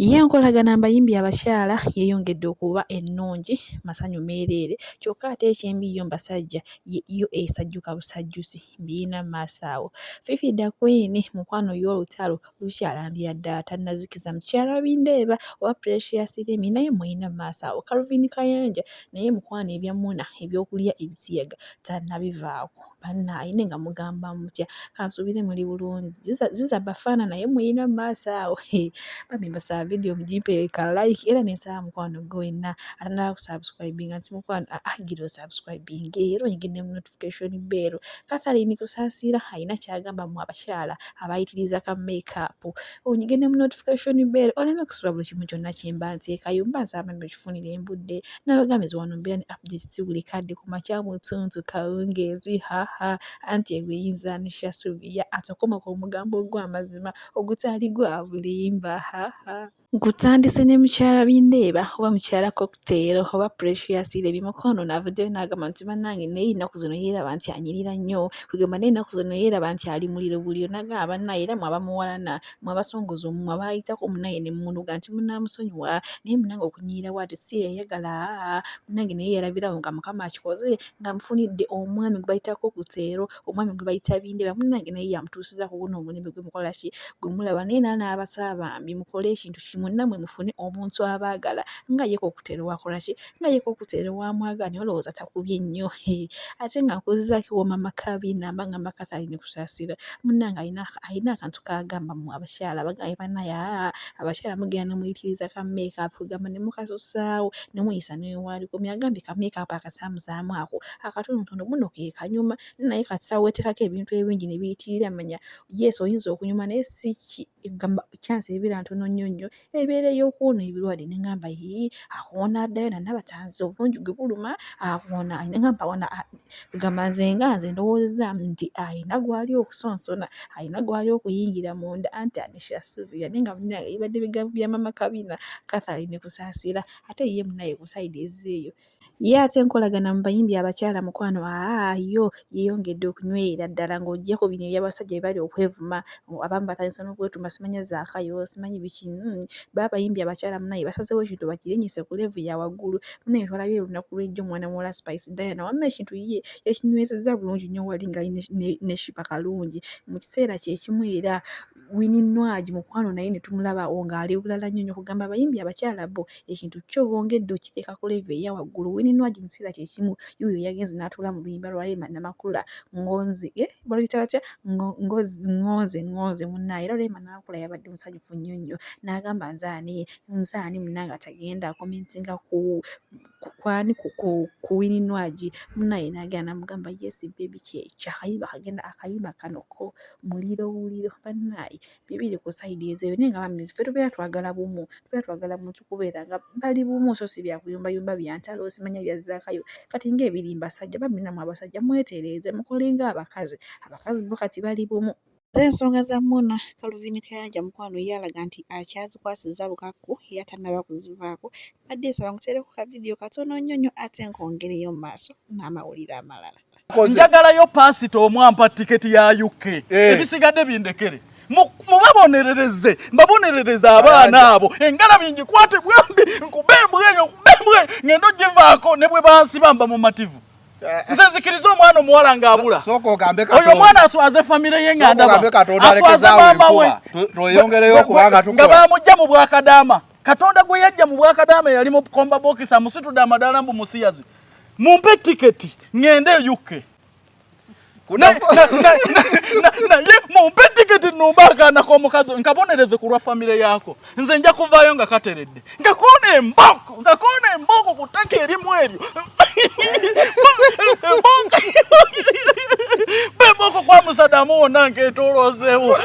Ye enkolagana mbayimbi abakyala yeeyongedde okuba ennungi masanyu meereere kyokka ate ekyembi yo mbasajja yo esajjuka busajjusi mbirina mu maaso awo. Fifi da Queen mukwano ye olutalo lukyalambira ddala tannazikiza mukyala Bindeeba oba Precious Remy naye mulina mu maaso awo. Calvin Kayanja naye mukwano ebya Muna eby'okulya ebisiyaga tannabivaako. bannaaye naye nga mugamba mutya kansuubire muli bulungi ziza bafaana naye muyina mu maaso awo bambi mbasaba vidiyo mugimpeereka like era nensaba mukwano gwe wenna atanaba kusubscribinga nti mukwano agira osubscribinga era oyigidde mu notification beero kathalin kusaasiira alina kyagamba mu abakyala abayitiriza ka makeup onyigidde mu notification beero oleme kusula buli kimu kyonna kyemba nteekayo mba nsaba bambi okifunire embudde nabagamba nti wano mbeera ne update si buli kadde ku makya mu ttuntu kawungeezi haha anti ebyo eyinza nisha subiya ate okomako omugambo ogw'amazima ogutaali gwa bulimba haha Nkutandise ne mukyala bindeeba oba mukyala cocktail oba precious lebi mukono navuddeyo n'agamba nti bannange naye ennaku zino yeeraba nti anyirira nnyo kwegamba naye ennaku zino yeeraba nti ali muliro buliro nagamba bannange era mwe abamuwalana mwabasongoza omumwa baayitako munaye ne mumunuga nti munaamusonyiwa naye munange okunyiira waati si yeyagala munange naye yalabirawo nga mukama akikoze nga mufunidde omwami gwe bayitako ku seero omwami gwe bayita bindeba munange naye yamutuusiza ku guno omulembe gwe mukola ki gwe mulaba naye naa n'abasaba bambi mukole ekintu kimu namwe mufune omuntu abaagala nga yeko okutero wakola ki nga ye kokutere wamwaganya olowooza takubye nnyo ate nga nkuzizaako ewooma maka binamba nga maka talina kusasira munange alina akantu kagamba mu abakyala bagaye banaye aa abakyala mugenda nomuyitiriza ka makeup gamba nemukasusaawo nemuyisa newali komi agambye ka makeup akasaamusaamu ako akatonotono muno kekanyuma naye kati sawa wetekako ebintu ebingi nebiyitirira manya yes oyinza okunyuma naye si ki. egamba chance ebeera ntono nnyo nnyo ebeera ey'okuwona ebirwadde ne ngamba yii akuwona addayo na Nabatanzi obulungi gwe buluma akuwona ne ngamba wona egamba nze nga nze ndowoozezaamu nti alina gwali okusonsona alina gwali okuyingira munda anti Anisha Sylvia naye nga munnange bibadde bigambo bya maama Kabina Catherine Kusaasira ate ye munnaye ku sayidi ezzeeyo. Ye ate enkolagana mu bayimbi abakyala mukwano aa yo yeeyongedde okunywerera ddala ng'oggya ku bino eby'abasajja bye bali okwevuma abamu batandise n'okwetuuma simanya Zaakayo simanyi biki mm bo abayimbi abakyala bannange basazeewo ekintu bakirinyise ku leevu ya waggulu bannange twalabye olunaku lw'ejjo mwana muwala Spice Diana wamma ekintu ye yakinywezezza bulungi nnyo wali nga ne ne ne Sheebah Kalungi mu kiseera kye kimu era Winnie Nwagi mukwano naye ne tumulaba o ng'ali bulala nnyo nnyo kugamba abayimbi abakyala bo ekintu kyo bongedde okiteeka ku level eya waggulu Winnie Nwagi mu kiseera kye kimu yuuyo yagenze n'atuula mu luyimba lwa Rema Namakula Ngonzi eh baluyita batya Ngo- Ngozi Ngonze Ngonze munnaaye era Rema Namakula yabadde musanyufu nnyo nnyo n'agamba nze ani nze ani munnange atagenda akomentinga ku kwani kuwini nwagi munaye nagenda namugamba yes baby kyakayimba kagenda akayimba kano ko muliro wuliro banaye bibiri ku side ezo naye nga bambi ffe tubeera twagala bumu tubeera twagala muntu kubeera nga bali bumu so si byakuyumba yumba byantalo simanya bya zakayo kati nga ebiri mbasajja bambi namwe abasajja mwetereeze mukolenga abakazi abakazi bo kati bali bumu. Z'ensonga za Muna, Calvin Kayanja mukwano ye alaga nti akyazikwasizza bukakku era tannaba kuzivaako. Mbadde nsaba nkuteereko ka vidiyo katono nnyo nnyo ate nkongereyo mu maaso n'amawulire amalala. Njagalayo paasita omu ampa tiketi ya UK. Eh. Ebisigadde bindekere. mubabonerereze mbabonerereze abaana abo engala bingikwate bwembi nkubembweyo nkubembweyo ngendo givaako ne bwe bansiba mba mumativu nze nzikiriza omwana omuwala ng'abula oyo omwana aswaze famire ye nga ndaba aswaze maama we nga bamujja mu bwakadaama katonda gwe yajja mu bwakadaama yali mu komba bokisi amusitudde amadaala mbu musiyazi mumpe tiketi ŋŋende eyukke naye mumpe tiketi numba akaana k'omukazi nkabonereze ku lwa famire yaako nze nja kuvaayo nga kateredde nga koona embooko nga koona embooko ku ttaka erimu eryo bebooko kwa musadamu wonna nkeetoloozeewo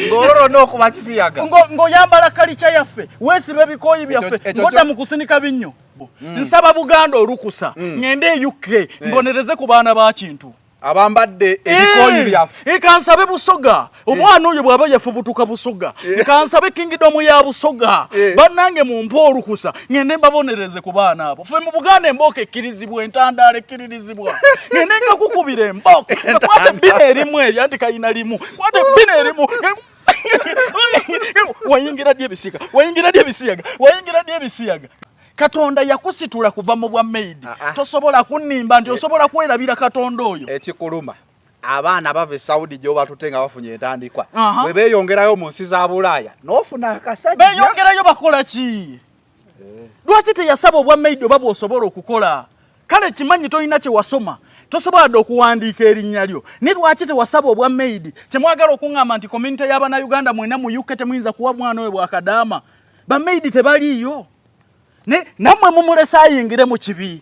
ng'ololona okuba kisiyaga ng'oyambala kalikya yaffe weesiba ebikooyi byaffe ngoda mu kusinika binnyo Bob mm. nsaba Buganda olukusa mm. ngende e UK eh. mbonereze ku baana ba kintu abambadde eh. ebikooyi byaffe eh, kansabe busoga omwana oyo bw'aba yafubutuka busoga kansabe kingidomu ya busoga bannange mumpe olukusa ngende mbabonereze ku baana abo fe mu buganda embooko ekkirizibwa entandaala ekkiririzibwa ngende nkakukubira embooko kwata ebbina erimu eryo anti kalina limu kwata ebbina erimu wayingira ddi ebisiyaga wayingira ddi ebisiyaga wayingira ddi ebisiyaga katonda yakusitula kuva mu bwa maid ah, ah. tosobola kunnimba nti eh. osobola kwerabira katonda oyo ekikuluma abaana bava e saudi gyoba tute nga bafunye entandikwa bwe beeyongerayo mu nsi za bulaaya n'ofuna akasajja beeyongerayo bakola ki lwaki teyasaba obwa maid oba bwosobola okukola kale kimanyi tolina kyewasoma tosobola dde okuwandiika erinnya lyo naye lwaki tewasaba obwa maid kyemwagala okuŋŋamba nti community y'abanauganda mwena mu uk temuyinza kuwa mwana oyo bwakadaama bamaid tebaliiyo naye nammwe mumulese ayingire mu kibi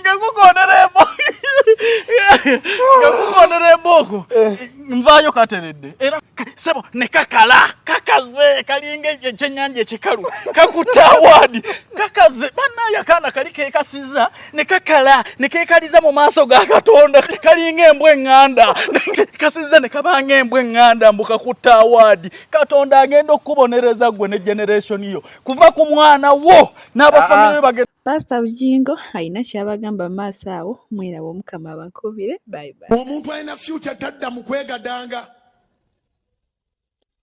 nga kukonera emboko nga kukonera emboko eh. nvayo kateredde era sebo ne kakala kakaze kalinga ekyenyanja ekikalu kakuta awaadi kakaze banaye akaana kali kekasiza ne kakala ne kekaliza mu maaso ga katonda kalinga embwa eŋŋanda kasiza ne kabanga embwa eŋŋanda mbu kakutta awaadi katonda agenda okukubonereza gwe ne generation yo kuva ku mwana wo n'abafamire ah, ah. bagenda Pastor Bujingo alina kyabagamba maaso awo mwerabe omukama abakubire bye bye. Omuntu alina future tadda mu kwegadanga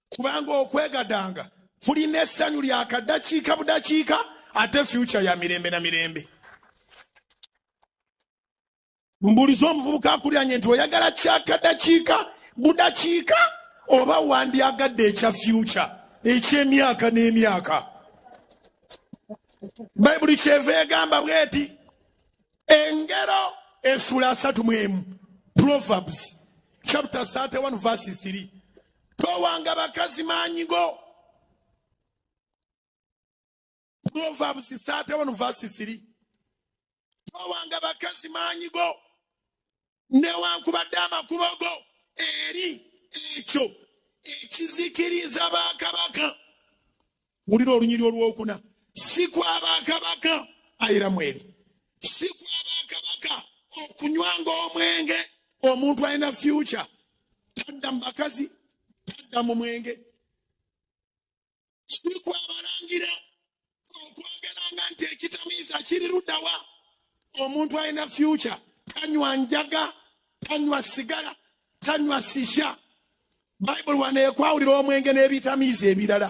kubanga okwegadanga tulina essanyu lya kadakiika budakiika ate future ya mirembe na mirembe. mbuliza omuvubuka akulyanye nti oyagala kyakadakiika budakiika oba wandyagadde ekya fyuca ekyemyaka n'emyaka bayibuli kyeva egamba bweti engero esula asatu mwemu proverbs chapter 31 verse 3 towanga bakazi maanyigo proverbs 31 verse 3 towanga bakazi maanyi go newankubadde amakubo go eri ekyo ekizikiriza bakabaka wulira olunyiri olwokuna si kwabakabaka ayiramu eri si kwabakabaka okunywanga omwenge omuntu alina fyuca tadda mu bakazi tadda mu mwenge siku abalangira okwogeranga nti ekitamiiza kiri ludawa omuntu alina fyuca tanywa njaga tanywa sigala tanywa sisha bayibuli wano ekwawulira omwenge n'ebitamiiza ebirala